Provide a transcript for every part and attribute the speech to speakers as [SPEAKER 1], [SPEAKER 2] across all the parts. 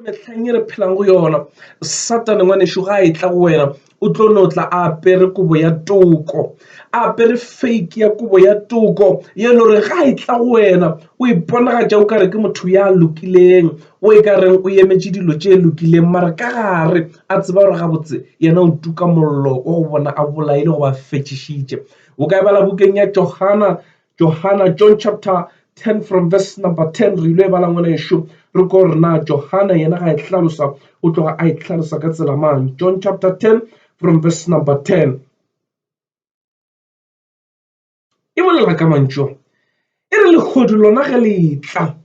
[SPEAKER 1] metlheng e re phelang go yona satane ngwanešu ga a e tla go wena o tlo no tla a apere kobo ya toko a apere fake ya kobo ya toko ye le gore ga e tla go wena o iponagatša o kare ke motho ya lokileng o e ka reng o emetše dilo tše lokileng mara ka gare a tseba gore gabotse yena o tuka mollo wa go bona a bolaile go ba fetšišitše o ka e bala bukeng ya johana Johana, John chapter 10 from verse number 10 re ile e bala ngwana ešo re ko gore na johana yena ga e hlalosa o tloga a e hlalosa ka tsela mang john chapter 10 from verse number 10 e bolela ka mantšu e re lehodu lona ge le tla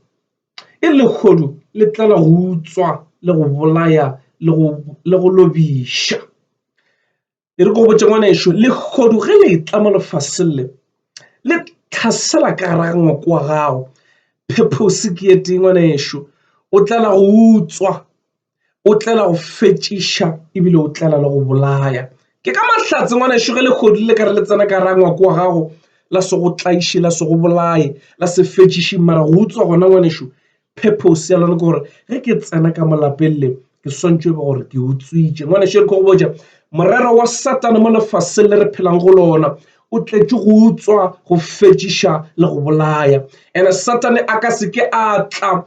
[SPEAKER 1] e re lehodu le tlala go utswa le go bolaya le go lobiša e re ko botse ngwana ešo lehodu ge le tla mo lefaseng le le tlhasela ka gara ngwako wa gago phephosi ke e tee ngwana ešo o tlela go utswa o tlela go fetšiša ebile o tlela le go bolaya ke ka mahlatse ngwana ešo ge lehodu le ka re le tsena ka gara ngwako wa gago la se go tlaiše la se go bolaye la se fetšiše mara go utswa gona ngwana ešo purpose ya lona ke gore ge ke tsena ka molapeng le ke swantšwe be gore ke utswitše ngwane šere go botša morero wa satane mo lefaseng le re phelang go lona o tletše go utswa go fetšiša le go bolaya ene satane a ka seke a tla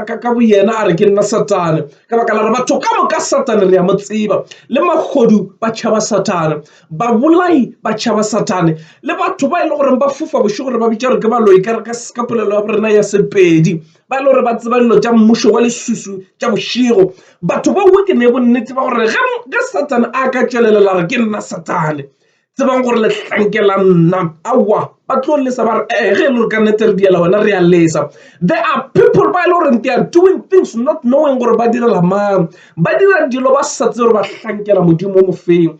[SPEAKER 1] ka boyena a re ke nna satane ka baka la re batho ka moka satane re ya mo tseba le magodu ba tšhaba satane babolai, batšhaba, Sathane le batho ba e le gore ba fofa bošego gore ba bitša gore ke baloi ka re ka polelo ya borena ya Sepedi ba e le gore ba tseba dilo tša mmušo wa lesusu tša bošego. Batho ba uwe ke ne bonnete ba gore ge Sathane a ka tšwelelela re ke nna Sathane tsebang gore lehlanke la nna aowa ba tlo lesa ba re ee ge e le gore ka nnete re diela wena re a lesa. There are people ba e le gore they are doing things not knowing gore ba direla mang ba dira dilo ba sa tsebe gore ba hlankela Modimo o mofeng.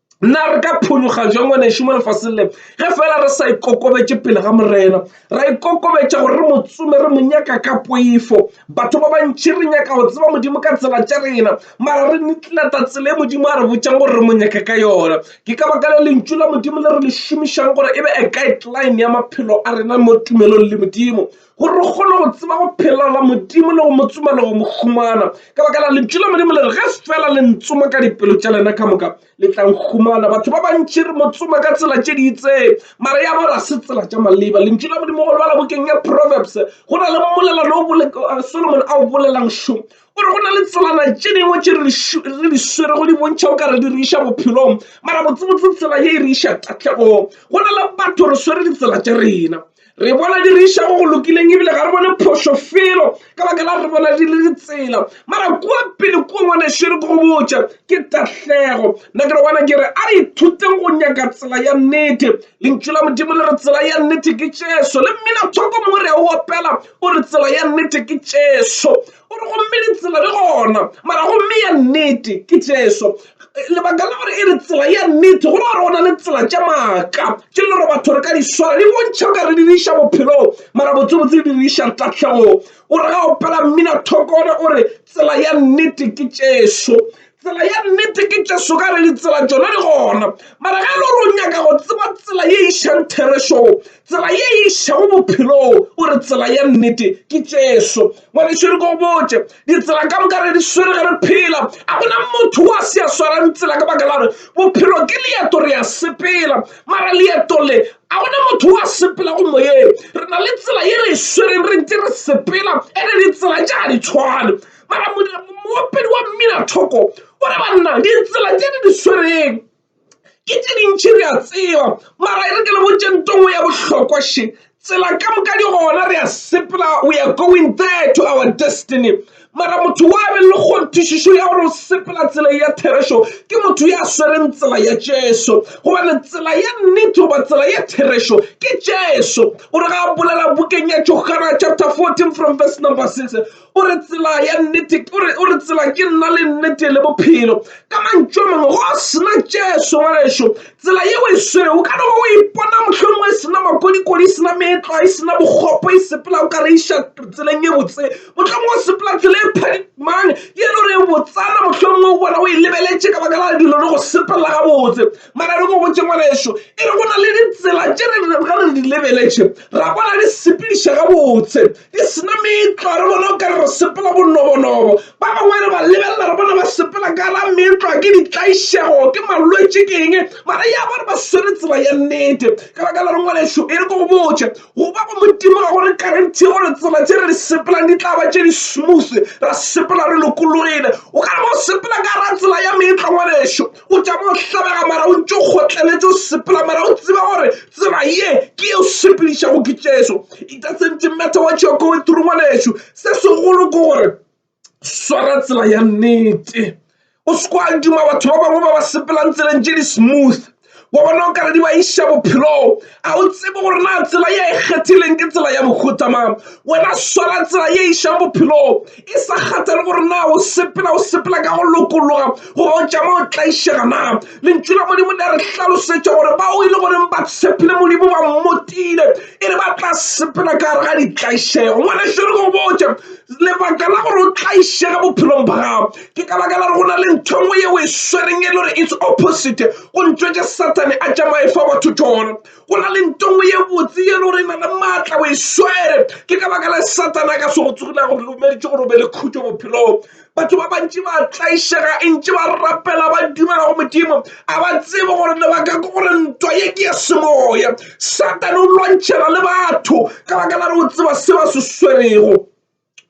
[SPEAKER 1] na re ka phologa jwa ngwanešu mo lefaseng le ge fela re sa ikokobetše pele ga morena ra ikokobetša gore re motsome re mo nyaka ka poifo batho ba bantšhi re nyaka go tseba modimo ka tsela tša rena mara re netlata tsela e modimo a re botšang gore re mo nyaka ka yona ke ka baka le lentšu la modimo le re le šomišang gore e be a guideline ya maphelo a rena mo tumelong le modimo gore re kgone go tseba go phela la modimo le go mo tsoma le go mo humana ka baka la lentšu la modimo le re ge fela le ntsoma ka dipelo tša lena ka moka le tlang humana batho ba bantši re mo tsoma ka tsela tše di itseng mara ya ba ga se tsela tša maleba lentšu la modimo go lebala bokeng ya proverbs go na le mmolelano o uh, solomon a o bolelang šo o re go na le tselana tše dingwe tše re di swere go di bontšha o ka re di re iša bophelong mara botsebotse tsela ye e re iša tahlegong go na le batho re swere ditsela tša rena re bona di re išago go lokileng ebile ga re bone phošo felo ka baka la re bona di le ditsela mara kua pele kua ngwanešere ko go botša ke tahlego nna ke re wana ke re a re ithuteng go nyaka tsela ya nnete lentšu la modimo le re tsela ya nnete ke tšeso le mmina thoko mo re a o opela o re tsela ya nnete ke tšeso O re, Gomme ditsela di gona, mara gomme ya nnete ke Jesu. Lebaka la gore e re tsela ya nnete, go ra gore go na le tsela tša maaka tše le gore batho re ka di swara, di bontšha o ka re di re iša bophelong, mara botsebotse di re iša tahlegong. O re ga o pala mmina thokone, o re, Tsela ya nnete ke Jesu. Tsela ya nnete ke Jesu ka re ditsela tšona di gona. Mara ge e le gore o nyaka go tseba tsela ye e išang therešong, tsela ye e išago bophelong, o re tsela ya nnete ke Jesu. Ngwanešu re ko botše, ditsela ka moka re di swere ge re phela. A go na motho o a se a swarang tsela ka baka la gore bophelo ke leeto re a sepela. Mara leeto le a go na motho o a sepelago moyeng. Re na le tsela ye re e swereng re ntše re sepela ene ditsela tša ga di tshwane. mara moopedi wa mmina thoko o re banna ditsela tse di di swereng ke tse dintšhi re a tseba mara e re ke le botsentongwe ya bohlokwa še tsela ka moka di gona re a sepela we are going there to our destiny mara motho wa be le kgonthišišo ya gore o sepela tsela ya therešo ke motho ya swereng tsela ya jesu gobane tsela ya nnete goba tsela ya therešo ke jesu o re ga a bolela bukeng ya johana chapter 14 from verse number 6 O re tsela ya nnete, o re, o re tsela ke nna le nnete le bophelo. Ka mantšu a mangwe, go a sena Jesu, ngwanešu. Tsela yeo e swere, o ka no ba o ipona mohlomongwe e sena makodikodi, e sena meetlwa, e sena bokgopo, e sepela o ka re iša tseleng ye botse. Mohlomongwe o sepela tsela e phadimang, ye no re botsana, mohlomongwe o bona o e lebeletše ka baka la dilo le go sepelela gabotse. Mara re go botse ngwanešu, e re go na le ditsela tše re, ge re di lebeletše, ra bona di sepediša gabotse. Di se na meetlwa, re bona o ka re re sepela bonobonobo. Ba bangwe re ba lebelela, re bona ba sepela ka la meetlwa, ke ditlaišego, ke malwetši, ke eng, mara ya ba re ba swere tsela ya nnete. Ka baka la rengwanešu e re ko go botše, go ba go Modimo ga go re karentie gore tsela tše re di sepelang di tla ba tše di smooth, ra sepela re lokologile. O ka re ba o sepela ka ra tsela ya meetlwa, ngwanešu, o tšama o hlabega mara o ntse o kgotleletše o sepela mara o tseba gore tsela ye ke e o sepedišago ke jesu it doesn't matter what you're going through ngwanešu se segolo ke gore swara tsela ya nnete o se kwa duma batho ba bangwe ba ba sepelang tseleng tše di smooth wa bona o kare di ba iša bophelong A o tsebe gore na tsela ye e kgethileng ke tsela ya mohuta mang? Wena swara tsela ye e išang bophelong, e sa kgathale gore na o sepela o sepela ka go lokologa goba o tšama o tlaišega na. Lentšu la Modimo le a re hlalosetša gore bao e le goreng ba tshepile Modimo ba mmotile e re ba tla sepela ka gare ga ditlaišego. Ngwanešu re go botše lebaka la gore o tlaišege bophelong ba gago ke ka baka la go na le ntho nngwe yeo e swereng e le gore it's opposite go ntswetse sathane a tsamaye fa batho tšona go na le nto nngwe ye botse ye le gore e na le maatla o e swere ke ka baka la sathane a ka se go tsogile gore lomeditse gore o be le khutšo bophelong batho ba bantši ba tlaišega e ntše ba rapela ba dumela go modimo a ba tsebe gore lebaka ke gore ntwa ye ke ya semoya sathane o lwantšhela le batho ka baka la re o tseba se ba se swerego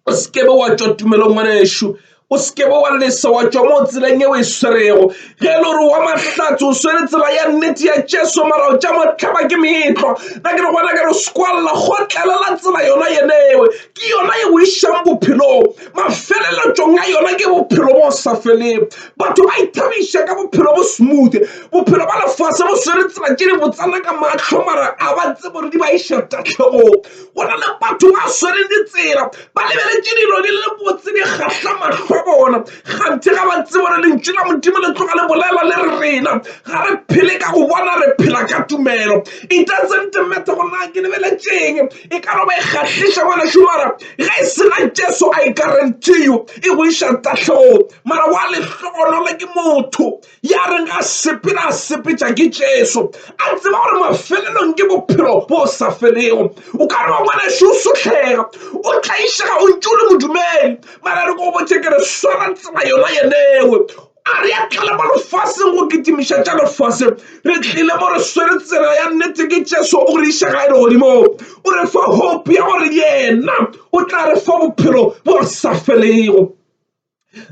[SPEAKER 1] o sekebe wa tšwa tumelong ngwanešu o sekebe wa lesa wa tšwa mo tseleng ye o e swerego ge e le gore wa mahlatse o swere tsela ya nnete ya jesu mara o tša motlhaba ke meetlwa na ke re gona ka re sekwalela gotlelela tsela yona yenewe ke yona ye o išang bophelong mafeleletšong a yona ke bophelo bo sa feleng batho ba ithabiša ka bophelo bo smooth bophelo ba lefase bo swere tsela tše di botsana ka mahlo mara a ba tse bore di ba iša tahlegong go na le batho ba swereng ditsela ba lebeletše dilo di le botse di kgahla mahlo bona ganthe ga ba tsebo gore lentšu la modimo le tloga le bolela le rena ga re phele ka go bona re phela ka tumelo e doesn't matter gore na ke lebeletšeng e ka no ba e kgahliša ngwana šomara ge e sena jesu i guarantee you e go iša tahlong mara wa lehlogonolo ke motho ya reng a sepela a sepetša ke jesu a tseba gore mafelelong ke bophelo bo sa felego o ka re wa ngwaneso o sotlhega o tlaišega o ntse o le modumele mara re ko botse ke re swara tsela yona yenewe a re a tlala mo lefaseng go kitimiša tša lefase re tlile mo re swere tsela ya nnete ke jesu o re iša ga e le godimo o re fa hope ya gore yena o tla re fa bophelo bo sa felego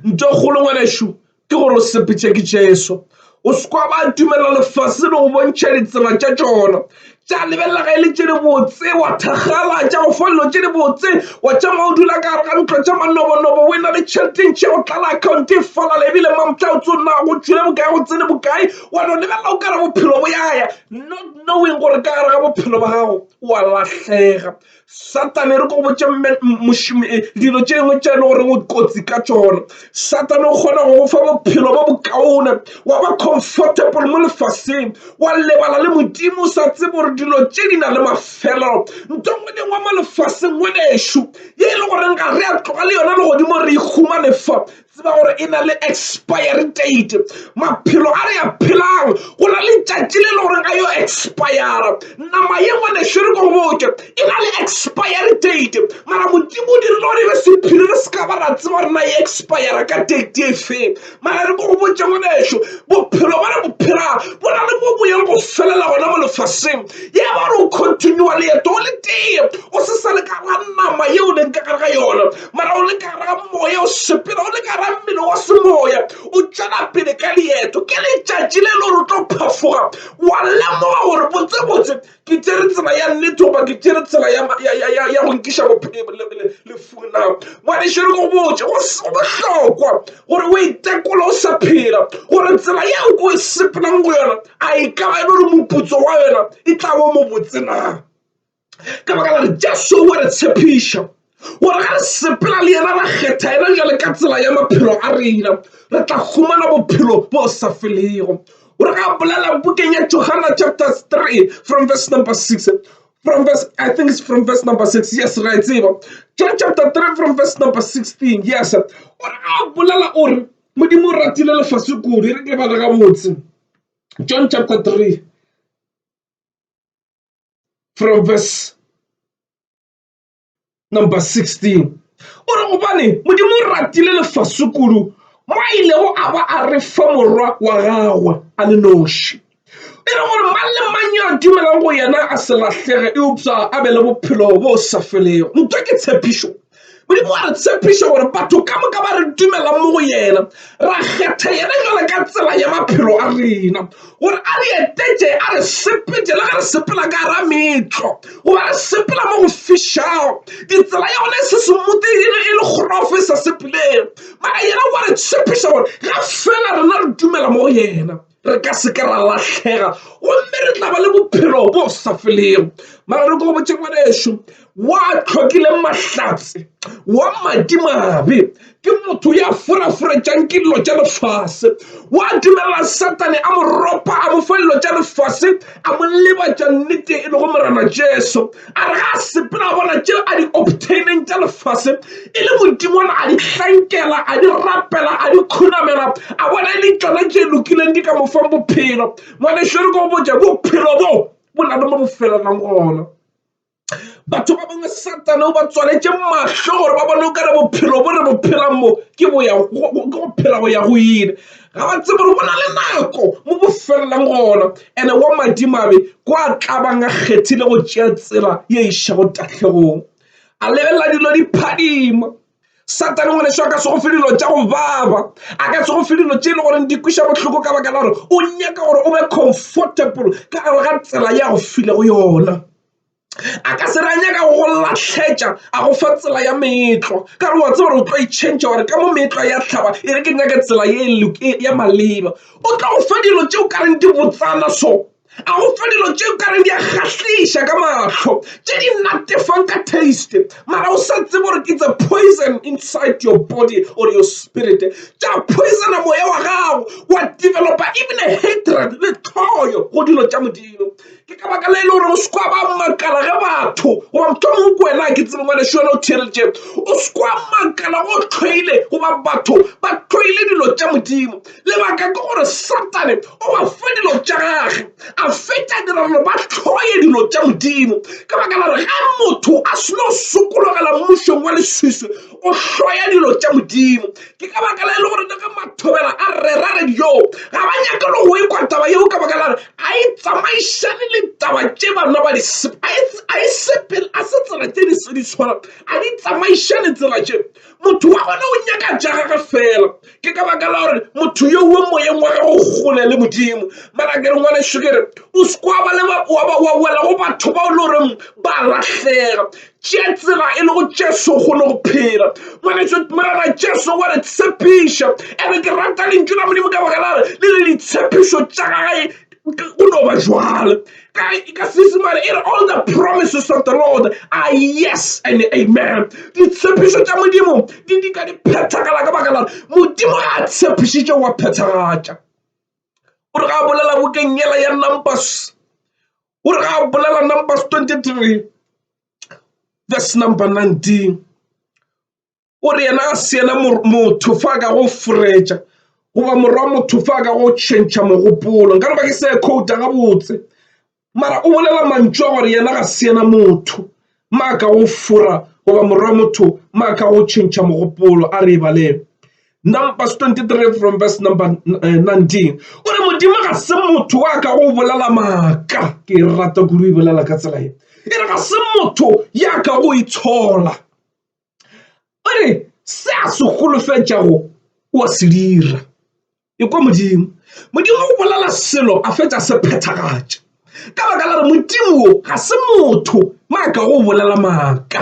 [SPEAKER 1] ntho e kgolo ngwanešu ke gore o sepetše ke jesu o sekwa ba dumelela lefase le go bontšha ditsela tša tšona tša lebelela ga e le tše di botse wa thakgala tša go folelo tše di botse wa tša ma o dula ka gare ga ntlo tša manobonobo o e na le tšheleteng tše go tlala account e falala ebile mamtla o tse o nna go tšhile bokae go tsene bokae wa no lebelela o ka re bophelo bo yaya not knowing gore ka gare ga bophelo ba gago wa lahlega Satane re ko botša mošomi eh, dilo tše dingwe tša e le gore o kotsi ka tšona satane o kgona go go fa bophelo bo bokaone wa ba comfortable mo lefaseng wa lebala le modimo o sa tsebe gore dilo tše di na le mafelelo nto ngwe le ngwe mo lefaseng ngwenešu ye e le goreng ga re a tloga le yona legodimo re ikgumane fa Tseba gore e na le expiry date maphelo a re a phelang go na le tšatši le le gore a yo expire nama ye ngwane šere ko boke e na le expiry date mara modimo o dirile gore e be sephiri re se ka ba ra tseba gore na e expire ka date e feng mara re ko go botse ngwaneso bophelo ba re bophela bo na le mo boyeng go felela gona mo lefaseng ye ba re o continua leeto o le tee o se sa le ka ga nama yeo leng ka gare ga yona mara o le ka ra moya o sepela o le ka ra mmele wa semoya o tšwela pele ka leeto ke letšatši le le gore o tlo phafoga wa lemoga gore botsebotse ke tsere tsela ya nnete goba ke tsere tsela ya go nkiša lefung la ngwanešere go botse go bohlokwa gore o itekola o sa phela gore tsela yeo ko e sepelang go yona a e ka ba e le gore moputso wa yona e tla bo mobotse na ka baka gore jesu o re tshepiša gore ga re sepela le yena ra kgetha yena jale ka tsela ya maphelo a rena re tla fumana bophelo bo sa felego gore ga bolela bukeng ya johana chapter 3 from verse number 6 from verse i think it's from verse number 6 yes ra e tseba john chapter 3 from verse number 16 yes gore ga bolela o re modimo o ratile lefase kudu e re ke bala gabotse john chapter 3 from verse number 16 o re gobane modimo o ratile lefase kudu mo a ilego a ba a re fa morwa wa gagwe a le noši e re gore mang le mang yo a dumelang go yena a se lahlege eupša a be le bophelo bo sa felego ntwa ke tshepišo Modimo wa re tshepiša gore batho ka moka ba re dumelang mo go yena ra kgetha yena jalo ka tsela ya maphelo a rena gore a re etetše a re sepete le ge re sepela ka ra metlo goba re sepela mo go fišago ditsela ya gone e se semutegile e le kgorofe sa sepeleng mara yena wa re tshepiša gore ga fela rena re dumela mo go yena re ka se ke ra lahlhega gomme re tla ba le bophelo bo sa felego mara re ko botse ngwaneso wa tlhokile mahlatse wa madimabe ke motho ya foraforetšang ke dilo tša lefase wa dumelela satane a mo ropa a mo fa dilo tša lefase a mo lebatša nnete e lego morena jesu a re ga a sepela bona tše a di obtaineng tša lefase e le modimona a di hlankela a di rapela a di khunamela a bona e le tšona tše lokileng di ka mo fang bophelo ngwaneso re ko botša bophelo bo bo na le mo bo felelang gona batho ba bangwe satane o ba tswaletše mahlo gore ba bone o kare bophelo bo re bo phelang mo ke go phela go ya go ile ga ba tsebe gore go na le nako mo bo felelang gona ene wa madimabe ko a tlabang a kgethile go tšea tsela ye išago tahlegong a lebelela dilo di phadima satane ngwane seo a ka se go fe dilo tša go baba a ka se go fe dilo tše e le goreng di kwiša bohloko ka baka la gore o nyaka gore o be comfortable ka gare ga tsela ya go file go yona a ka se ra nyaka go lahletša a go fa tsela ya meetlo ka re wa tse gore o tlo e change gore ka mo meetlo ya tlhaba e re ke nyake tsela e ya maleba o tlo go fa dilo tšeo ka reng di botsana so a go fa dilo tšeo ka reng di a kgahliša ka mahlo tše di natefang ka taste mara o sa tsebe gore ke tse poison inside your body or your spirit tša poisona moya wa gago wa developa even a hatred le tlhoyo go dilo tša modimo ke ka baka la e le gore o se kwa ba makala ge batho goba mothomong ko wena ke tsebe ngwane šone o theeleditše o se kwa makala go tlhoile goba batho ba tlhoile dilo tša modimo lebaka ke gore satane o ba fe dilo tša gage a fetša dira gore ba tlhoye dilo tša modimo ka baka la re ge motho a seno sokologela mmušong wa leswiswi o hloya dilo tša modimo ke ka baka la e le gore le ka mathobela a rera radio ga ba nyake le go ekwa taba yeo ka baka lare a e tsamaišane le taba tše bana ba a e sepele a se tsela tše di se di tshwana a di tsamaišane tsela tše motho wa gona o nyaka ja gage fela ke ka baka la gore motho yo wo moyeng wa gago gole le modimo mara ke re ngwane šokere o sekwa ba le wa wela go batho ba o le goreng ba lahleka tše tsela e lego Jesu o kgone go phela ngwaneso morena Jesu wa re tshepiša ene ke rata lentšu la modimo ka baka la re le le ditshepišo tša gae go no ba jwale ka seesemane e re all the promises of the lord are yes and amen ditshepišo tša modimo di di ka di phethagala ka baka la modimo ga a tshepišitše wa phethagatša o re ga a bolela bokeng yela ya numbers o re ga o bolela numbers 23 verse number 19 o re yena a se yena motho fa ka go fretša goba morwa motho fa ka go tšhentšha mogopolo nka re ba ke se khouta gabotse mara o bolela mantšu a gore yena ga se yena motho maaka go fora goba morwa motho maaka go tšhentšha mogopolo a re ebaleng Numbers 23 from verse number 19 eh, o re modimo ga se motho wa ka go bolela maaka ke e rata kudu e bolela ka tsela e e re ga se motho ya ka go itshola o re se a se golofetšago o a se dira Ekwa Modimo. Modimo o bolela selo a fetša se phethagatša. Ka baka la re Modimo wo ga se motho maaka go bolela maaka.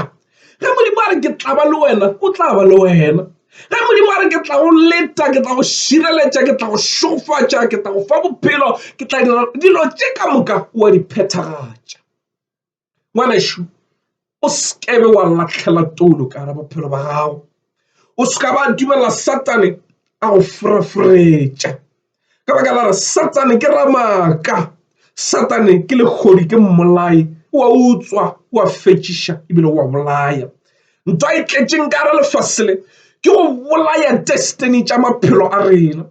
[SPEAKER 1] Ge Modimo a re ke tla ba le wena, o tla ba le wena. Ge Modimo a re ke tla go leta, ke tla go šireletša, ke tla go šogofatša, ke tla go fa bophelo, ke tla dira dilo tše ka moka, o a di phethagatša. ngwanešu o sekebe wa latlhela toulo ka gare bophelo ba gago o se ka ba dumela satane a go foraforetša ka baka la re satane ke ramaka satane ke lekgodi ke mmolai wa utswa wa fetšiša ebile wa bolaya ntwa e tletšeng ka gare lefase le ke go bolaya destiny tša maphelo a rena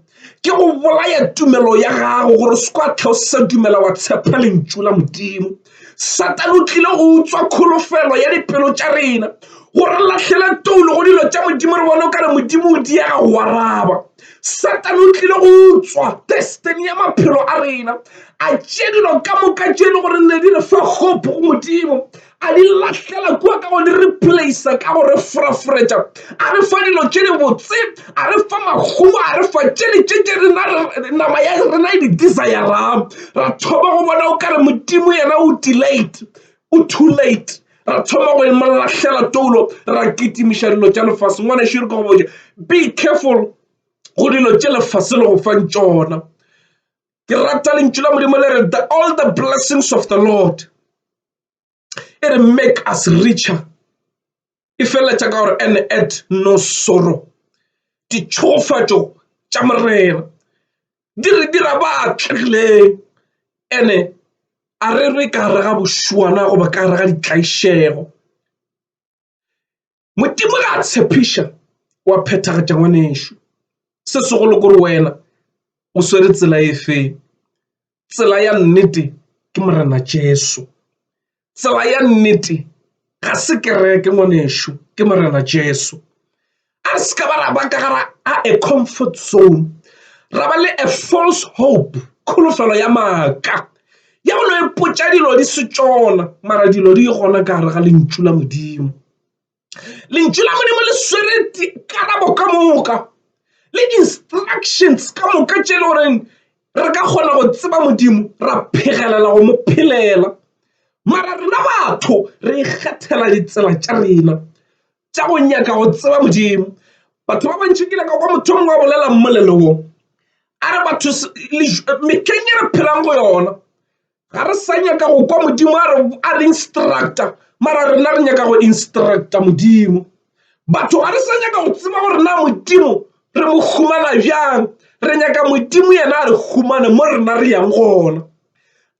[SPEAKER 1] ke go bolaya tumelo ya gago gore se kwa tlha o sa dumela wa tshepa lentšu la modimo satane o tlile go utswa kholofelo ya dipelo tša rena gore latlhele toulo go dilo tša modimo re bone o ka re modimo o diega go araba satane o tlile go utswa destiny ya maphelo a rena a tše dilo ka moka tše e le gore ne di re fa hope go modimo a di lahlela kua ka go di replacea ka go re foraforetša a re fa dilo tše di botse a re fa makgowa a re fa tšele tše tše rena nama ya rena e di desirang ra thoma go bona o ka re modimo yena o delayed o too late ra thoma go mo lahlela toulo ra kitimiša dilo tša lefase ngwana šere ka go botša be careful go dilo tše lefase le go fang tšona ke rata lentšu la modimo le re the all the blessings of the lord e re make us richer e feleletša ka gore and at no sorrow ditšhogofatšo tša morena di re dira ba atlegileng ene a re re ka gare ga bošwana goba ka gare ga ditlaišego modimo ga a tshepiša wa phethagatša ngwanešu se segolo kore wena o swere tsela e feng tsela ya nnete ke morena jesu tsela ya nnete ga se kereke ngwanešu ke morena jesu a re se ka ba ra ba ka gara a a comfort zone ra ba le a false hope kholofelo ya maaka ya go no e potša dilo di se tsona mara dilo di gona ka gare ga lentšu la modimo lentšu la modimo le swere dikarabo ka moka le instructions ka moka tše e le goreng re ka kgona go tseba modimo ra phegelela go mo phelela mara rena batho re ikgethela ditsela tša rena tša go nyaka go tseba modimo. Batho ba bantši ke nyaka kwa motho o mongwe a bolela mmolelong a re batho mehleng e re phelang go yona Ga re sa nyaka go kwa Modimo a re a re instructor mara rena re nyaka go instructor Modimo. Batho ga re sa nyaka go tseba gore na Modimo re mo humana bjang re nyaka Modimo yena a re humane mo rena re yang gona.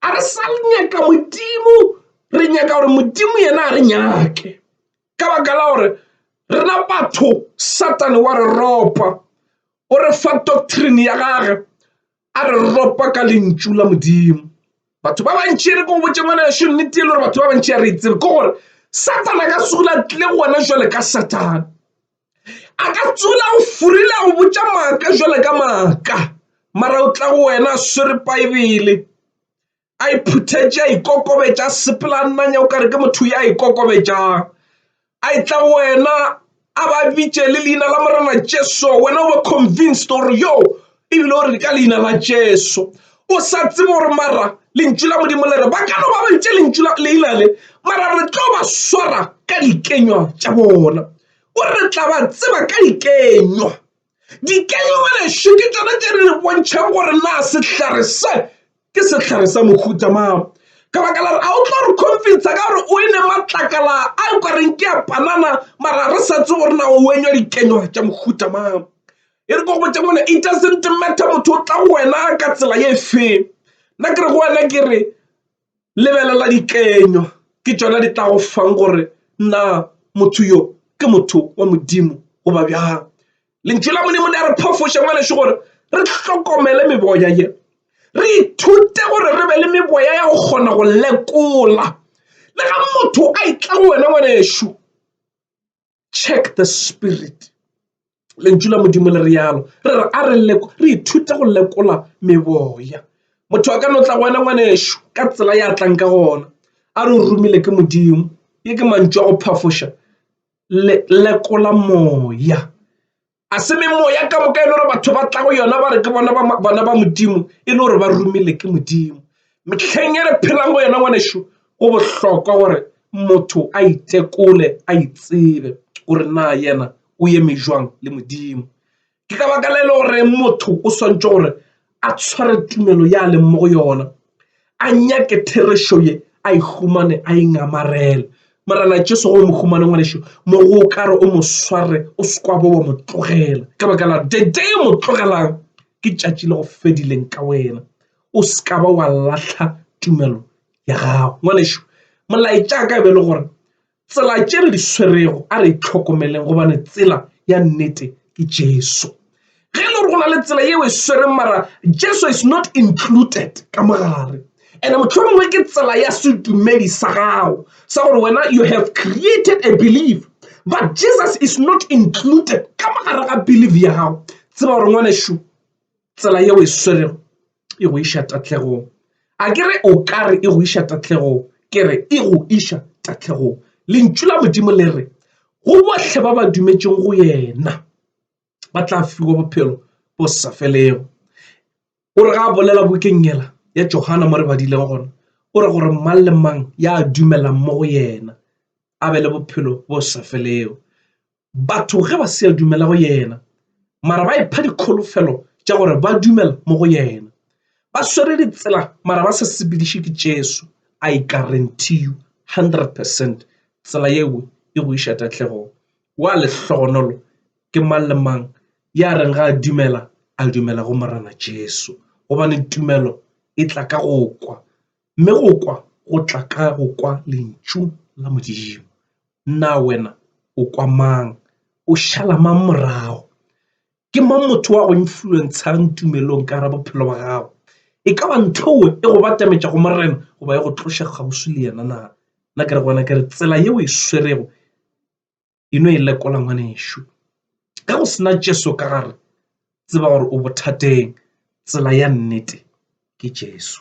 [SPEAKER 1] A re sa nyaka Modimo re nyaka gore Modimo yena a re nyake ka baka la gore rena batho Satane wa re ropa o re fa doctrine ya gage a re ropa ka lentšu la modimo batho ba bantši re ko botse ngwana yešo nnete e le gore batho ba bantši a re itsebe ke gore satana ka tsula tle go wena jale ka satana a ka tsula o furile go botsa maaka jale ka maaka mara o tla go wena a swere baebele a iphuthetše a ikokobetša a sepela a nnanya o kare ke motho ya ikokobetšang a e tla go wena a ba bitše le leina la morena jesu wena o ba convinced gore yo ebile o re ka leina la jesu o sa tsebe gore mara lentšu la modimo le re ba ka no ba bantše lentšu leina le mara re tlo ba swara ka dikenywa tša bona o re tla ba tseba ka dikenywa Dikelegelešo ke tšona tše di re bontšhang gore na sehlare se ke sehlare sa mohuta mang ka baka la re a o tlo re confidence ka gore o e ne matlakala a o ka reng ke a panana mara re sa tse gore na o wenywa dikenywa tša mohuta mang e re ko go botša mone it doesn't matter motho o tla go wena ka tsela ye feng nna ke re go wena ke re Lebelela dikenywa, ke tšona di tla go fang gore na motho yo ke motho wa Modimo goba bjang. Lentšu la Modimo le a re phafoša ngwaneso gore re hlokomele meboya ye, re ithute gore re be le meboya ya go kgona go lekola. Le ga motho a itla go wena ngwaneso, check the spirit lentšu la modimo le realo re re a re re ithute go lekola meboya motho a ka no tla go wena ngwanešu ka tsela ya tlang ka gona a re o romile ke modimo ye ke mantšu a go phafoša lekola moya a se memoya ka moka e le gore batho ba tla go yona ba re ke bona bona ba modimo e le gore ba romile ke modimo metlheng e re phelang go yona ngwanešu go bohlokwa gore motho a itekole a itsebe gore na yena o eme jwang le modimo ke ka baka le e le gore motho o swantse gore a tshware tumelo ya leng mo go yona a nyake therešo ye a e humane a e ngamarele morana jesu go mo humane ngwanešu mo go ka re o mo sware o sekwa bo wa mo tlogela ka baka la dede mo tlogelang ke tšatši le go fedileng ka wena o se ka ba wa latlha tumelo ya gago ngwanešu molaetša ka e be e le gore Tsela tše re di swerego a re itlhokomeleng gobane tsela ya nnete ke Jesu. Ge e le gore go na le tsela yeo e swereng mara Jesu is not included ka mogare and mohlomongwe ke tsela ya sedumedi sa gago sa gore wena you have created a belief but Jesus is not included ka mogare ga belief ya gago tseba gore ngwanešu tsela yeo e swerego e go iša tahlegong a ke re o ka re e go iša tahlegong ke re e go iša tahlegong lentšu la modimo le re go bohle ba ba dumetšeng go yena ba tla fiwa bophelo bo sa felego o re ga a bolela bokeng yela ya johana mo re badilego gona o re gore mang le mang ya dumelang mo go yena a be le bophelo bo sa felego batho ge ba se dumela go yena mara ba ipha dikholofelo tša gore ba dumela mo go yena ba swere ditsela mara ba sa sepediše ke jesu i guarantee you 100 percent tsela yeo e go iša tahlegong wa lehlogonolo ke mang le mang ya reng ga a dumela a dumela go morena jesu gobane tumelo e tla ka go kwa Mme go kwa go tla ka go kwa lentšu la Modimo. Na wena o kwa mang? O šala mang morago? Ke mang motho wa go influentshang tumelong ka ra bophelo ba gago? E ka ba nthowe e go batametša go morena goba e go tloša kgauswi le yena na? Nna ke re gona ke re tsela yeo e swerego e no e lekola ngwanešu ge go sena jesu ka gare tseba gore o bothateng tsela ya nnete ke jesu